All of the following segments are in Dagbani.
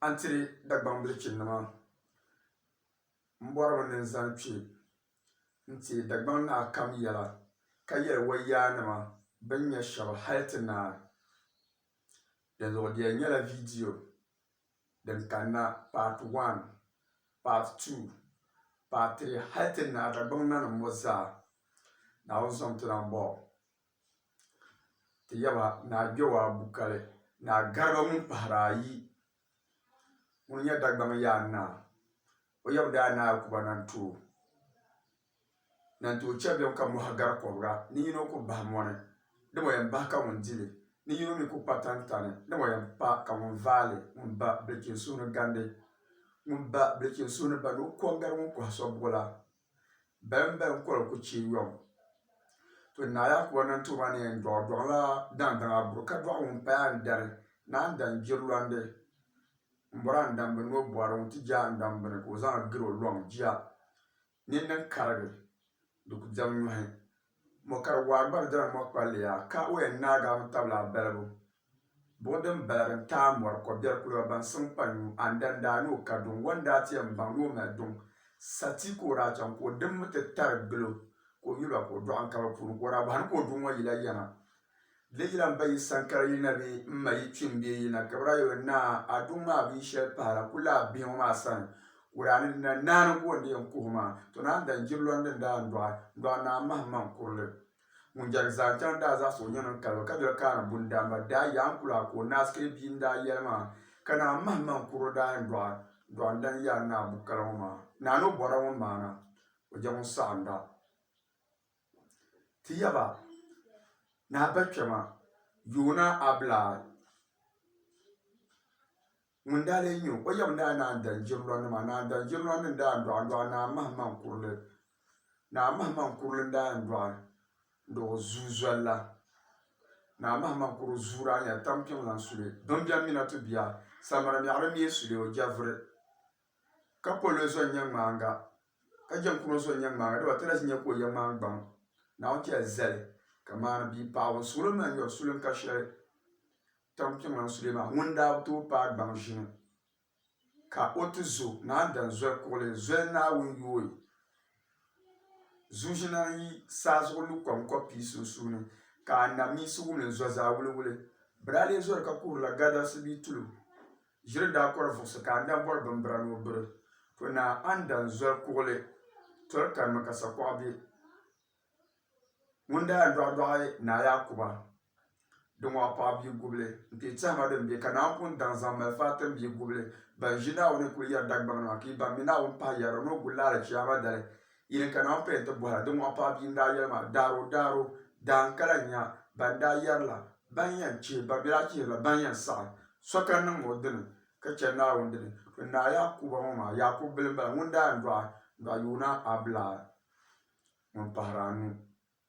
A ni tiri Dagbaŋ bilichinnima m-bɔri ba ni n zaŋ kpe n-ti Dagbaŋ naa kam yɛla, ka yɛli o yaanima bɛ ni nya shɛba hal ti naai. Dinzuɣu di yɛn nyɛla viidiyo din kanna Part One, Part Two, Part Three hal ti naai Dagbaŋ nanim ŋɔ zaa. Naawuni zaŋ ti lan bɔri o. Ti yaba ni a kpe o a bukali ni a gariba ŋun pahiri ayi ŋun nyɛ Dagbaŋ yaa naa. O yaba daa ni a Kuba Nantuo. Nantuo chɛblim ka mɔhi gari kɔbiga ni yino ku bahi mɔni, dama o yɛn bahi ka ŋun di li, ni yino mi ku kpa tantani, dama o yɛn pa ka ŋun vaai li, ŋun ba bilichini suhu ni gandi. Ŋun ba bilichini suhu ni bandi o kɔŋ gari ŋun kɔhi so buɣila. Bɛmbɛŋ kɔli ku chɛ yom. To Naa Yaakubu niŋ ti ma ni yɛn dɔɣi dɔɣi la daŋdaŋa buri ka dɔɣi ŋun paya n-dari ni a ni dan jirilɔndi m-bɔri a ni dan bi ni o bɔri ŋun ti je a ni dan bini ka o zaŋ a gari o lɔŋ jia. Ni n ni karigi, di ku diɛm nyɔhi. Mɔ ka di waa gba di dɔla mɔ kpalli ya ka o yɛn naagi a mi tabili a balibu buɣi din bala din taai mɔri kɔbiɛri kuliba ban siŋ kpa nyu a ni dan daa ni o ka duŋ wan daa ti yɛn baŋ ni o mali duŋ sa ti ka o daa chaŋ ka o dimmi ti tari gilo ka o yuli ba ka o dɔɣi n ka bi puuni ka o daa bɔhi ni ka o duŋ ŋɔ yila yana Di yi lan pa yi sankara yi na bi m ma yi kpim bee yi na gibira yo naa a duŋ maa bee shɛli pahira ku lahi be ŋɔ maa sani, ka o daa ni na naani ka o ni yɛn kuhi maa, to naa n-daa jiri lɔn din daa n dɔɣi n dɔɣi naa m-mahi m ma n kuri li. Ŋun jɛrig zaa chaŋ daa zaɣisi o nyin n-kali ba ka doli kaana bundaamba daa yaa n kuli a ka o naa sikiri bia n-daa yɛli maa, ka naa m-mahi m ma n kuri o daa yɛn dɔɣi dɔɣi n dan yaa naa bukala ŋɔ maa. Naa ni o bɔra ŋɔ maana o jɛ ŋun saɣinda. Ti yaba, Naa Bakpɛma, Yoona Abulaa ŋun daa lee nyɛ o? O yaba daa naan dali jirilɔnnima, a naan dali jirilɔnnim n-daa n-dɔɣi n-dɔɣi Naa Mahimaŋ Kurili. Naa Mahimaŋ Kurili n-daa yɛn dɔɣi n-dɔɣi o zuu zoli la. Naa Mahimaŋ Kurili zuu daa nyɛla Tampiŋ lan suli, Bimbɛmmina tubiya, Saminamɛɣiri mia suli o jɛvuri. ka pol o zuɣu nyɛ ŋmaaŋa ka jɛm kum o zuɣu nyɛ ŋmaaŋa dama ti lahi nya ka o yɛ ŋmaangbaŋ Naawuni ti yɛn zali ka maani bia paɣibu n sulim maa nyɔri sulim ka shɛli tampiŋlɔŋ sulee maa ŋuni daa bi tooi paai gbaŋ ʒini ka o ti zo naan dan zoli kuɣili zoli Naawuni yooi zuʒina n yi saa zuɣu lu kom kɔb pii sunsuuni ka anamiinsi wumli n zo zaa wuliwuli bɛ daa lee zori ka kuhirila gadalsi bee tulim Ʒiri daa kɔri vuɣisi ka anda bɔri bimbira ni o biri to naa anda n-zoli kuɣili toli kanimi ka sakuɣa be ŋun daa yɛn dɔɣidɔɣi Naa Yaakuba di ŋɔɣu paɣ bia gubili n-kpi tɛhima din be ka Naa pun daŋ zaŋ mali Fatim bia gubili ban ʒi Naawuni kuli yɛri Dagbaŋ nima ka yi ban mi Naawuni pahi yɛrili ni o guli li alichiyaama dali Yi ni kana m-paya nti bɔhi a, di mɔɣu paɣ bia n-daa yɛli maa, Daaro, Daaro, daa n kala nya ban daa yɛri la, ban yɛn chihi ba bɛ daa chihiri la ban yɛn saɣi so ka niŋ o dini ka chani Naawuni dini. Bɛ naa Yaakuba ŋɔ maa, Yaakubu bila m-bala ŋun daa yɛn dɔɣi dɔɣi yuuna Abulaa ŋun pahiri anu.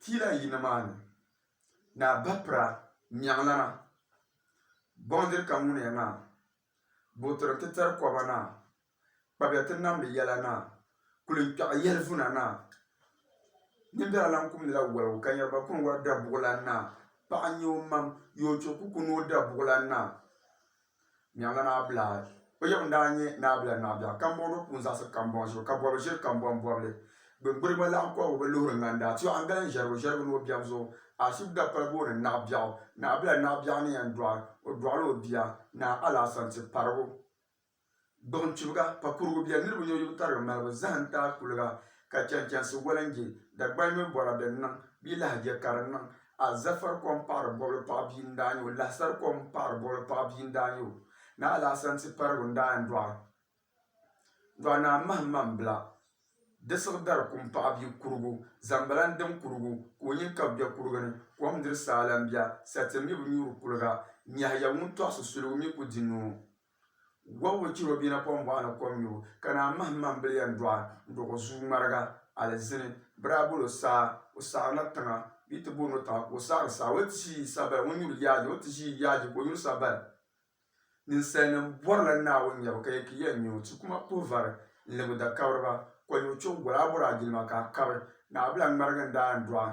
Tila yini maa ni, Naa Bapira Mɛɣilana, Bɔŋdiri ka ŋuniya naa, Buɣitiri ti tari kɔba naa, Kpabiya ti namdi yɛla naa, Kuli n kpɛɣi yɛlivuna naa, Nimbɛra lan kumdila waligu ka nyariba kuni wari dabuɣilan naa, Paɣa n-nyɛ o mam, Yoocho ku kuni o dabuɣilan naa. Nyaŋla maa bila ayi. O yaba n-daa nyɛ Naabila Naɣibiɛɣu Kambɔŋdo Kuun Zaɣisi Kambɔŋ zuɣu ka bɔbi ʒiri Kambɔŋ bɔbili. Gbiŋgbiri gba laɣim kɔbigu bi luhiri ŋanda ti Aŋgala n ʒɛrigu ʒɛrigu ni o biɛm zuɣu. Ashib Dapal booni Naɣibiɛɣu. Naɣibila Naɣibiɛɣu ni yɛn dɔɣi o dɔɣila o bia Naa Alaasantiparigu. Gbuɣim chibiga ka kurugu bɛ niriba nyɔnyubu tarigi malibu zahim taai kuliga ka chɛnchɛnsi walinji Dagbal mini bɔra din niŋ bia lahijɛ ka di niŋ a Zafar kom paɣiri bɔbili paɣa bia n daa nyɛ o Lahasar kom paɣiri bɔbili paɣa bia n daa nyɛ o Naa Alahasan ti parigu n daa yɛn dɔɣi dɔɣi Naa Mahim Maŋ Bila di siɣi dari kum paɣa bia kurugu zambala n dim kurugu ka o nyin kabi bɛ kurugu ni kom n diri saa la n bɛ sa ti mi bi nyuuri kuliga Nyɛhiya ŋun tɔɣisi suligu mi ku di noo Gɔŋgo chir o bia na kom bɔɣa ni kom nyubu, ka naa mahim ma m-bil yɛn dɔɣi n-dɔg o zuu ŋmariga. Alizini bi daa bol o saa, o saɣirila tiŋa, bɛ yi ti booni o tiŋa ka o saɣiri saa. O yi ti ʒi Sabali, ŋun nyuri yaaji, o ni ti ʒi yaaji ka o nyuri Sabali. Ninsalinim bɔrila Naawuni nyɛbu, ka yɛli, Ki yɛn nya o. Ti kuma puhi vari n-lib o dakabiriba. Kɔnyuri chɔbu gol a bɔri a jilima ka a kabi, Naɣibila ŋmariga n-daa yɛn dɔɣi a.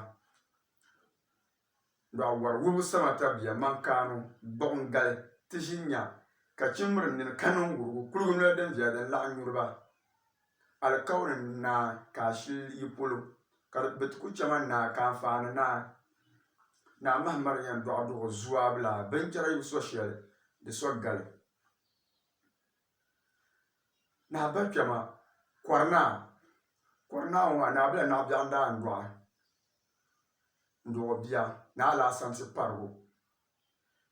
Lɔɣu wari wum sama ta bia man kaanu gbuɣim gali ti ʒi nya ka chimri nini ka niŋ wurugu kuligu noli din viya din laɣ nyuri ba alikauli naa ka a shili yi polo ka bɛ ti ku chɛ ma naa ka anfaani naa Naa Mahamadu yɛn dɔɣi duɣi zuaabila binchɛra yubu so shɛli di so gali. Naa biri kpɛma kɔri naa kɔri naa ŋɔ maa naa biri la naɣi bɛɣu n daa yɛn dɔɣi n dɔɣi o bia ni alaasam ti parigu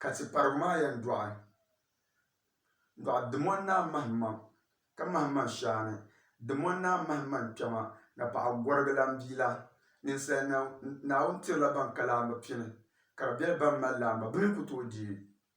ka ti parigu maa yɛn dɔɣi n dɔɣi dimoni naa mahim maŋ ka mahim maŋ shɛli ni dimoni naa mahim maŋ kpɛma ni paɣi gɔrigi lan bia la ninsali nim Naawuni tiri la bani ka laamba pini ka di bɛri bani mali laamba bini n ku tooi dɛɛ.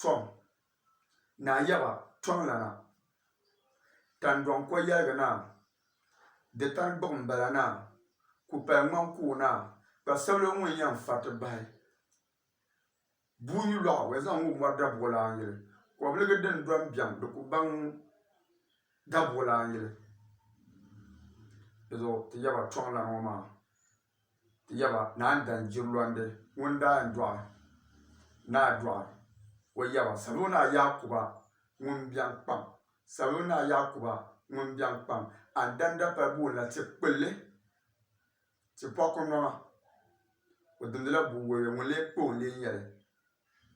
tɔm, naa yaba tɔŋlana, tandɔŋ ko yɛligi naa, di tani buɣim bala naa, kpupali ŋmaŋ kuɣu naa, kpa sabila ŋun yɛn fariti bahi buyi lɔɣu o yɛn zaŋ ŋ-ŋɔ mɔri dabuɣilan yili, kɔbiligi din dɔm biɛŋ di ku baŋ dabuɣilan yili. Di zuɣu ti yaba tɔŋlana ŋɔ maa. Ti ya ba, Naan dan jirilɔndi ŋun daa yɛn dɔɣi ni a dɔɣi o yaba, sal o ni a Yaakuba ŋun biɛŋ kpaŋ, sal o ni a Yaakuba ŋun biɛŋ kpaŋ, a ni dan dapal buɣim la ti kpilli, ti pɔku nɔŋa, o dimdila buɣ wabiɛ ŋun lee kpa o n-lee nya li.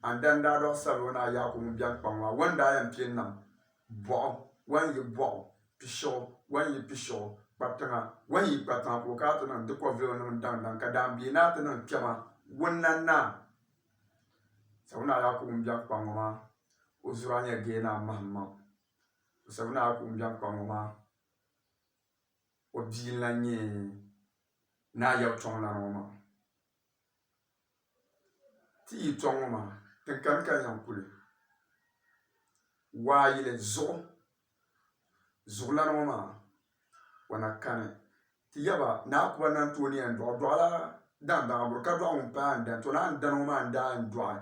A ni daa n-daa dɔɣi salo naa Yaakubu ŋun beni kpaŋ maa, wan daa yɛn piɛ nam bɔɣu, wan yi bɔɣu, pishiɣu, wan yi pishiɣu, kpa tiŋa, wan yi kpa tiŋa, ka o kana ti niŋ di kɔviligu nim daŋ daŋ, ka daanbia naa ti niŋ kpɛma wunna naa. Salo naa Yaakubu ŋun beni kpaŋ ŋɔ maa, o zuraa nyɛ gee naa mahim maŋ. O salo naa Yaakubu ŋun beni kpaŋ ŋɔ maa, o bia n-lan nyɛ naa Yawuchɔŋ lana ŋɔ maa. Ti yi tɔŋ ŋɔ maa, ti kani ka zaŋ kuli waa yili zuɣu. Zuɣulana ŋɔ maa, o na kani. Ti yaba Naa Kuba ni na ti o ni yɛn dɔɣi dɔɣila daandaaŋaburu ka dɔɣi ŋun paya n-dani. To naa n-dani ŋɔ maa n-daa yɛn dɔɣi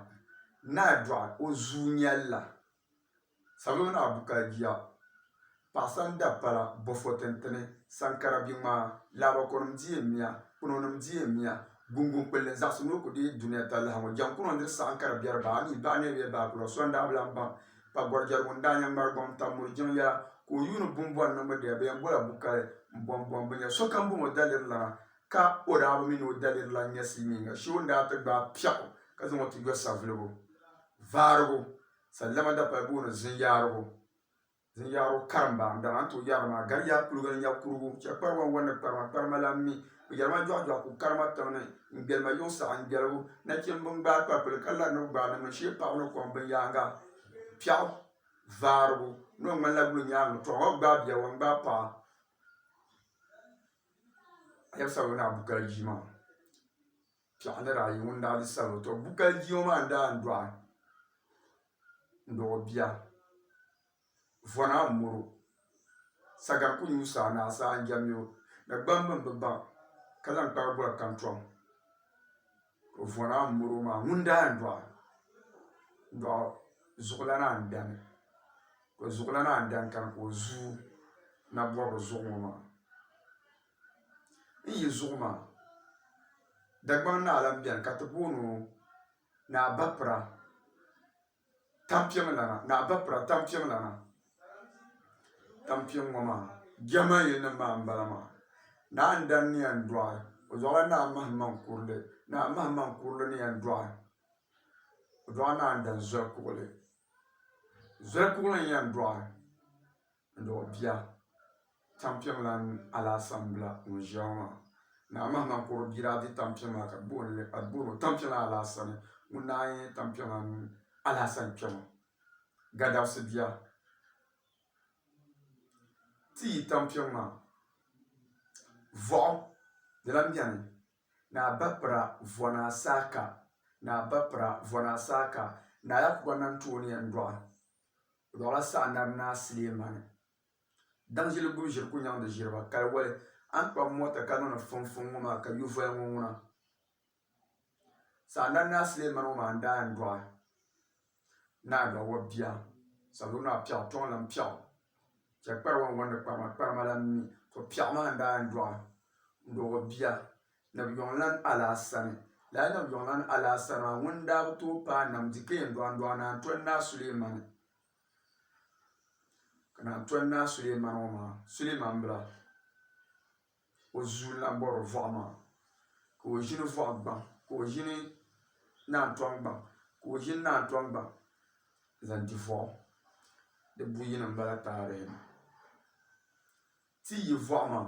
naa dɔɣi o zuunyɛlila. Salo naa bu ka jia, paɣisa ni dapala, bɔfɔ tintini, saŋkara bi ŋmaa, laabakɔnim di yɛn miya, kpinonim di yɛn miya, guŋguŋ kpulli zaɣisi ni o ku deei dunia talahi ŋɔ, jaŋkuno diri saɣim ka di biɛri bahi anii, bahi niribiɛ bahi kura, so n-daa bi lan baŋ ka gɔrijɛrigu n-daa nya ŋmari gɔŋ tam mur jiŋ yɛla ka o yuuni bumbɔni niŋbu dɛya bɛ yɛn bola bu kali m-bɔŋ bɔŋ binyɛra. Sokam bɔŋ o daliri lana ka o daa bi mi ni o daliri lan nyɛ silimiinga shee o ni daa ti gbaai piɛɣu ka zaŋ o ti yɔ savuligu vaarigu. Sallama dapali booni zinyaarigu, zinyaarigu karimba n dana n tooi yɛri li maa. Gariyaa kuliga n nya kurugu, chɛ kpari wan wan ni kparima, kparima lan mi. O yɛri ma jɔɣu jɔɣu ka o kari ma tiŋ ni, n gbɛli ma yiŋ saɣi n gbɛligu. Nachimba n gbaai kpapili ka lari ni bɛ gbaai niŋmin shee paɣaba ni kom binyaaŋa. Piɛɣu vaarigu ni o ŋmanila guli nyaaŋa tɔɣu ŋɔ bi gbaai bia wan gbaai paɣa. piɛɣu ni daa yi ŋun daa bi salo. Tɔ! Bukali bia ŋɔ maa n-daa n-dɔɣi n-dɔɣi o bia. Vɔna m-mɔro. Saga n-kuli nyu saa ni a saa n-jɛm ya o. Nagbamba m-bi baŋ ka zaŋ kpaai boli kantɔŋ. Tɔ! Vɔna m-mɔro maa ŋun daa yɛn dɔɣi dɔɣi zuɣulana n-dani. Tɔ! Zuɣulana n-dani kani ka o zuui nabɔbiri zuɣu ŋɔ maa. n yi zuɣu maa, Dagbaŋ naa lan beni ka ti booni o Naa Bapira Tampiɛmlana, Naa Bapira Tampiɛmlana. Tampiɛŋ ŋɔ maa Jɛhima yilinim maa m-bala maa. Naa n-dan ni yɛn dɔɣi o zuɣula Naa Mahimaŋ Kurili. Naa Mahimaŋ Kurili ni yɛn dɔɣi o zuɣu Naa n-dan Zɔli Kuɣili. Zɔli Kuɣili n-yɛn dɔɣi. n-dɔɣi bia tampiɛm lan alaasambila ŋun ʒiya ŋɔ maa. Naa Mahima kɔr bia daa di tampiɛm maa ka di booni o tampiɛm lan alaasani ŋun daa nyɛ tampiɛm lan alaasan kpɛma. Gadabisi bia, ti yi tampiɛm maa, vɔɣu di lan beni. Naa Bapira Vɔnaa Saaka Naa Bapira Vɔnaa Saaka Naa Yakuba Nantuo ni yɛn dɔɣi. Lɔɣila saha Nabi Naa Sulemani daŋ ʒili gum ʒiri ku nyaŋdi ʒiriba kali wali, a ni kpabi mɔta ka niŋdi fumfum ŋɔ maa ka yuvoya ŋɔ ŋuna. Saha Nabi Naa Sulemani ŋɔ maa n-daa yɛn dɔɣi Naa Dɔɣiwa bia Sabiri Naa piɛɣu tɔŋ lan piɛɣu chɛ kpariwa n-wɔndi kparima, kparima lan mi. To piɛɣu maa n-daa yɛn dɔɣi Dɔɣiwa bia. Nabiyɔŋlan Alaasani. Lala Nabiyɔŋlan Alaasani maa, ŋun daa bi tooi paai nam di ka yɛn dɔɣindɔɣi Naa Tɔni Naa Sulemani. Ka Naa Tɔni Naa Sulemani ŋɔ maa, Sulemani bila, o zuun lan bɔbiri Vɔɣu maa, ka o ʒini Vɔɣu gbaŋ, ka o ʒini Naa Tɔni gbaŋ, ka o ʒini Naa Tɔni gbaŋ zaŋ di Vɔɣu. Di buyini m-bala taarihi ni. Ti yi Vɔɣu maa.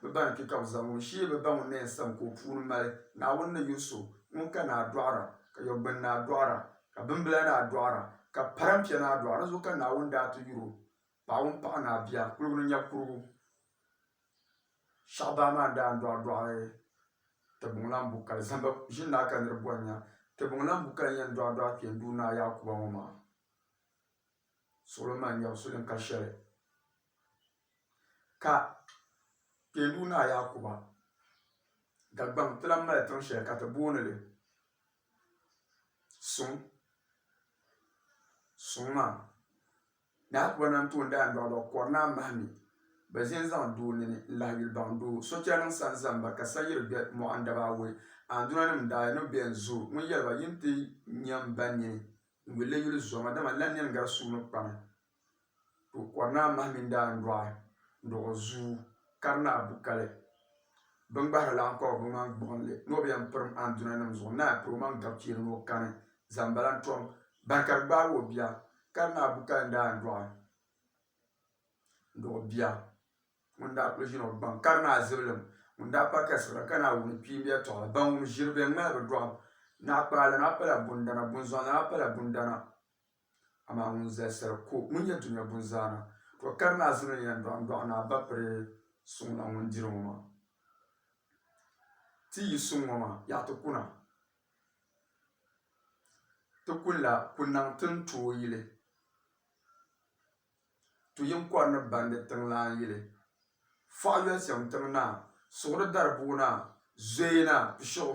Bɛ ba ni kpi ka bɛ zaŋ o ʒee bɛ ba ŋun ni yɛn sam ka o puuni mali. Naawuni ni yo so ŋun ka naa dɔɣira, ka yɔgbuni naa dɔɣira, ka bimbila naa dɔɣira, ka parɛmpia naa dɔɣira. Di zuɣu ka Naawuni daa ti yur o, Paɣ ŋun paɣ naa bia, kuligu ni nya kurigu. Shɛhi baa maa ni daa n-dɔɣi dɔɣi Tibuŋlam Bukali, Zamba ʒini naa ka nir bɔri nya. Tibuŋlam Bukali n-yɛn dɔɣi dɔɣi Kpɛnduu Naa Yaakuba ŋɔ maa. Suɣulo maŋ nyab sulinka shɛli. Ka Kpeendu Naa Yaakuba Dagbaŋ ti lan mali tiŋ shɛli ka ti booni li Suŋ. Suŋ maa, Naa Yaakuba nam tooi n-daa n-dɔɣi dɔɣi Kɔrinaa mahi mi bɛ ʒe n-zaŋ doo nini n-lahi yuli baŋ doo. Sochɛlinim sani zaŋ ba ka Sayiri be mɔɣin daba awɔi. Andunanim daa yi ni be n-zooi ŋun yɛli ba, Yin ti nya m ba nini n-yuli li yuli zoma, dama lala nini gari suu ni kpami. Ka o kɔri naa mahi mini daandɔɣi n-dɔɣi o zuu kari naa bu kali. Biŋgbahira laɣim kɔbi bɛ maŋ gbuɣinli ni o bi yɛn pirim andunanim zuɣu n-naai piri o maŋ gabchiiri ni o kani zambala n-tɔm bari ka di gbaagi o bia. Kari naa bu kali daandɔɣi n-dɔɣi bia ŋun daa kuli ʒini o gbaŋ. Kari naa zibilim ŋun daa pa kasigira ka naai wum kpiimb yɛtɔɣa. Ban wum ʒiri bɛ ŋ-ŋmahi bɛ dɔɣim. Naɣikpaɣilana pala bundana, bunzɔnlana pala bundana. Amaa ŋun zalisira ko ŋun nyɛ dunia bunzaana, to kari ni a zani o ni yɛn dɔɣim dɔɣi ni a ba piri suŋ na ŋun diri ŋɔ maa. Ti yi suŋ ŋɔ maa, yaɣi ti kuna. Ti kunila ku naŋ ti ni tooi yili. To yin kɔri ni bandi tiŋlaan yili. Fɔɣi yolisim tiŋ naa, suɣiri dari bua naa, zoya naa, pishiɣu.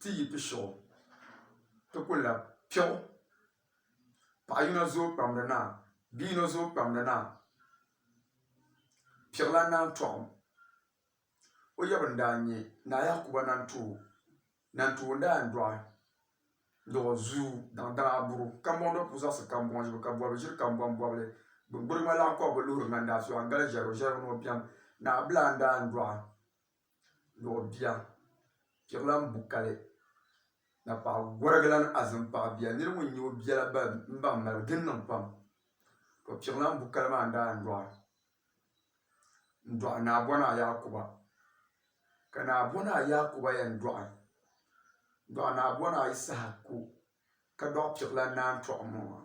Ti yi pi shiɣu, ti ku lab piɣu. Paɣ yino zooi kpamdi naa, bi yino zooi kpamdi naa. Piɣilan naan tɔɣim o yaba n-daa nya Naa Yakuba Nantuhu. Nantuhu n-daa yɛn dɔɣi dɔɣ zuu daŋ daŋ aburu. Kambɔŋ do puu zaɣisi kambɔŋ ʒibu ka bɔbigu ʒiri kambɔŋ bɔbili. Gbuɣiŋ maa lahi kɔbu bi luhiri ŋandaa so a ni gali ʒiɛri o ʒiɛri bi ni o biɛm. Naa Abdulai n-daa yɛn dɔɣi. luɣ bia piɣilan bukali ni paɣ gɔrigilan azim paɣ bia. Nir ŋun nya o bia la bahi m-bahi mali o. Di niŋ pam ka piɣilan bukali maa daa n-dɔɣi n-dɔɣi Naabɔnaa Yaakuba. Ka Naabɔnaa Yaakuba yɛn dɔɣi n-dɔɣi Naabɔnaa Yisahaku ka dɔɣi piɣilan Naantɔɣu ŋɔ maa.